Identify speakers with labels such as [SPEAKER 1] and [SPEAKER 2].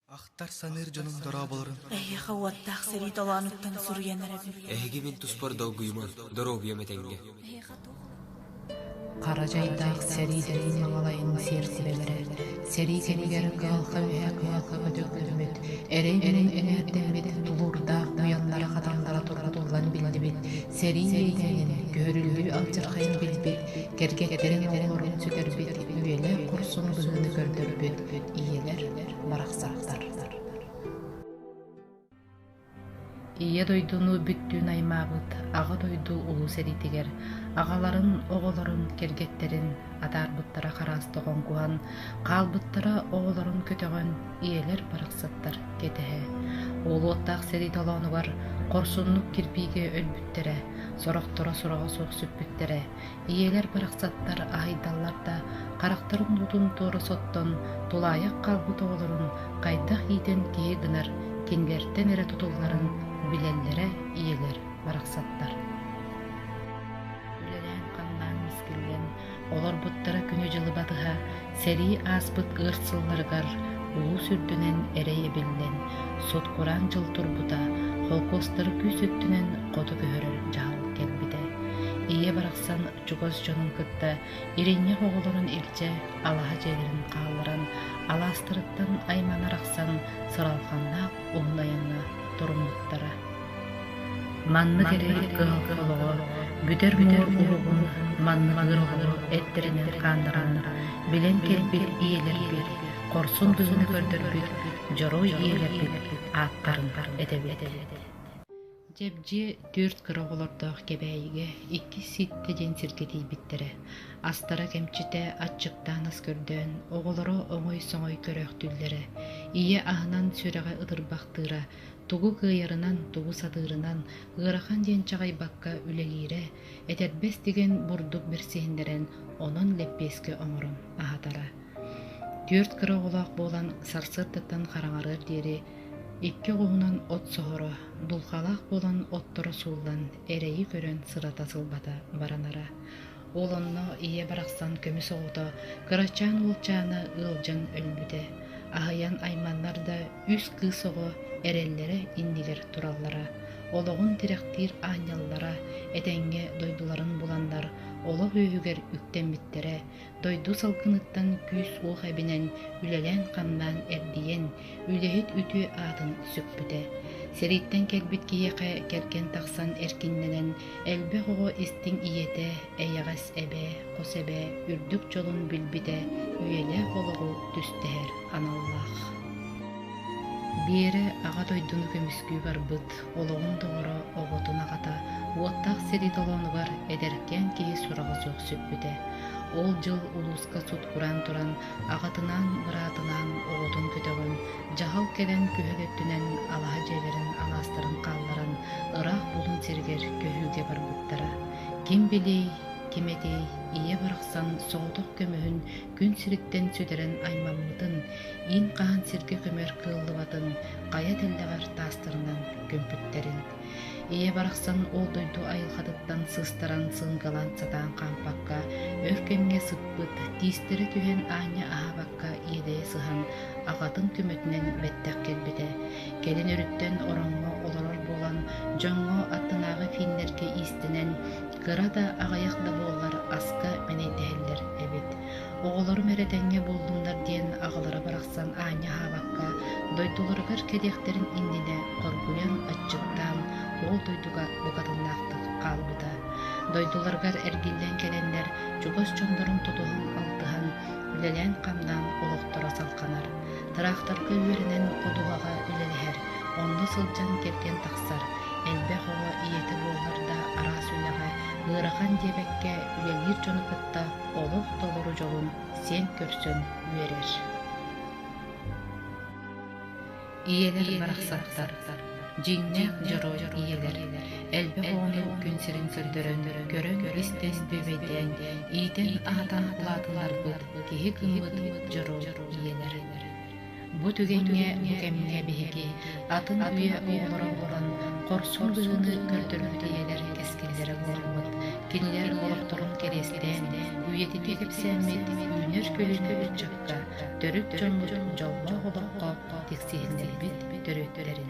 [SPEAKER 1] Ахтар саныыр дьонум дорооболорун. Эһиэхэ уоттаах сэрии толоонуттан суруйан эрэбин. Эһиги мин туспар долгуйумун, доруобуйам этэҥҥэ. Хара дьайдаах сэрии дэтин маҥалайын сиэрсибэлэрэ. Сэрии кэмигэр кыһалҕа үһэ кыһалҕа көтөҕүллүбүт, эрэй-муҥ эҥээрдэммит, тулуурдаах буйаннара-хатаннара тургутуллан биллибит сэрии иэйиинин, көһөрүллүү алдьархайын билбит, кэргэттэрин оҕолорун сүтэрбит, үйэлэр курсун быһыыны көрдөрбүт ийэлэр, барахсаттар Ийэ дойдуну бүттүүн аймаабыт Аҕа дойду Улуу сэриитигэр аҕаларын, оҕолорун, кэргэттэрин атаарбыттара хараас тоҕоҥкуһан, хаалбыттара оҕолорун көтөҕөн, ийэлэр барахсаттар кэтэһэ, уолуоттаах сэрии толоонугар хорсуннук кирбиигэ өлбүттэрэ, сорохторо сураҕа суох сүппүттэрэ, ийэлэр барахсаттар аһыйдаллар да, харахтарын уутун туора соттон, тулаайах хаалбыт оҕолорун хайдах иитэн киһи гынар, кинилэртэн эрэ тутулларын билэллэрэ ийэлэр барахсаттар. Үлэлээн-хамнаан мискиллэн, олорбуттара күнү-дьылы батыһа, Сэрии ааспыт ыар сылларыгар улуус үрдүнэн эрэй эбиллэн, сут-кураан дьыл турбута, холкуостары күүс өттүнэн хоту көһөрөр дьаһал кэлбитэ. Ийэ барахсан чугас дьонун кытта иринньэх оҕолорун илдьэ алаһа дьиэлэрин хаалларан, алаастарыттан аймана арахсан, сыралханнаах уһун айаҥҥа туруммуттара. Маннык эрэй кыһыл олоҕо бүтэр муҥур уруһун манныгын оҕолору эттэринэн хааннаран билэн кэлбит ийэлэрбит, хорсун дьылыны көрдөрбүт дьоруой ийэлэрбит ааттарын этэбит. Дьэбдьиэ түөрт кыра оҕолордоох Кэбээйигэ иккис ситтэ диэн сиргэ тиийбиттэрэ. Астара кэмчитэ аччыктаан ас көрдөөн, оҕолоро оҥой-соҥой көрөөхтүүллэрэ. Ийэ аһынан сүрэҕэ ытырбахтыыра, Тугу кыайарынан, тугу сатыырынан ыарахан диэн чаҕыйбакка үлэлиирэ, этэрбэс тигэн бурдук бэрсиһиннэрэн онон лэппиэскэ оҥорон аһатара. Түөрт кыра оҕолоох буолан сарсыардаттан хараҥарыар диэри икки оҕуһунан от соһоро, дулҕалаах буолан отторо сууллан эрэйи көрөн сырата сылбата баранара. Ол онно ийэ барахсан көмүс оҕото кырачаан уолчаана ыалдьан өлбүтэ, аһыйан айманнар да үс кыыс оҕо эрэллэрэ иннигэр тураллара, олоҕун тирэхтиир аанньаллара, этэҥҥэ дойдуларын буланнар олох үөһүгэр үктэммиттэрэ, дойду салгыныттан күүс-уох эбинэн үлэлээн-хамнаан эрдийэн Үлэһит үтүө аатын сүкпүтэ. Сириттэн кэлбит киһиэхэ кэргэн тахсан эркиннэнэн элбэх оҕо истиҥ ийэтэ, эйэҕэс эбээ, хос эбээ үрдүк дьолун билбитэ, үйэлээх олоҕу түстэһэр аналлаах. Биэрэ Аҕа дойдуну көмүскүү барбыт, олоҕун доҕоро, оҕотун аҕата, уоттаах сирий толоонугар эдэркээн киһи сураҕа суох сүппүтэ. Ол дьыл улууска сут кураан туран аҕатынаан, быраатынаан оҕотун көтөҕөн, дьаһал кэлэн күһүг өттүнэн алаһа дьиэлэрин алаастарын хаалларан ыраах булун сиригэр көһүүгэ барбыттара. Ким билиэй, ким этиэй, ийэ барахсан соҕотох көмөһүн күн сириттэн сүтэрэн аймаммытын, иин хаһан сиргэ көмөр кыаллыбатын хайа тэллэҕэр таастарынан көмпүттэрин Ийэ барахсан ол дойду айылҕатыттан сыстаран сыыҥкалаан сатаан хаампакка, өр кэмҥэ сыппыт, тиистэрэ түһэн аанньа аһаабакка иэдэйэ сыһан, аҕатын көмөтүнэн бэттэх кэлбитэ. Кэлин өрүттэн ороҥҥо олорор буолан, дьоҥҥо аттынааҕы финнэргэ иистэнэн, кыра да аҕыйах да буоллар аска мэнэйдэһэллэр эбит. Оҕолорум эрэ тэҥҥэ буоллуннар диэн аҕалара барахсан аанньа аһаабакка, дойдуларыгар кэлиэхтэрин иннинэ хоргуйан, аччыктаан ол дойдуга букатыннаахтык хаалбыта. Дойдуларыгар эргиллэн кэлэннэр чугас дьоннорун тутуһан алтыһан, үлэлээн-хамнаан олохторо салҕанар. Тыраахтарга үөрэнэн ходуһаҕа үлэлэһэр, онно сылдьан кэргэн тахсар, элбэх оҕо ийэтэ буолар да араас үлэҕэ ыарахан диэбэккэ үлэлиир дьону кытта олох толору дьолун сиэн көрсөн үөрэр. Ийэлэр барахсаттар дьиҥнээх дьоруой ийэлэр элбэх оҕону күн сирин көрдөрөн көрө-истэс бүөбэйдээн иитэн аһатан улаатыннарбыт киһи кыммыт дьоруой ийэлэр. Бу түгэҥҥэ бу кэмҥэ биһиги атын үйэ оҕолоро буолан хорсун быһыыны көрдөрбүт ийэлэр кэскиллэрэ буоламмыт, кинилэр олохторун кэриэстээн, үйэтитии кэпсээммит үүнэр көлүөнэ ыччакка, төрүт дьоммут дьоллоох олоххо тиксиһиннэрбит төрүттэрин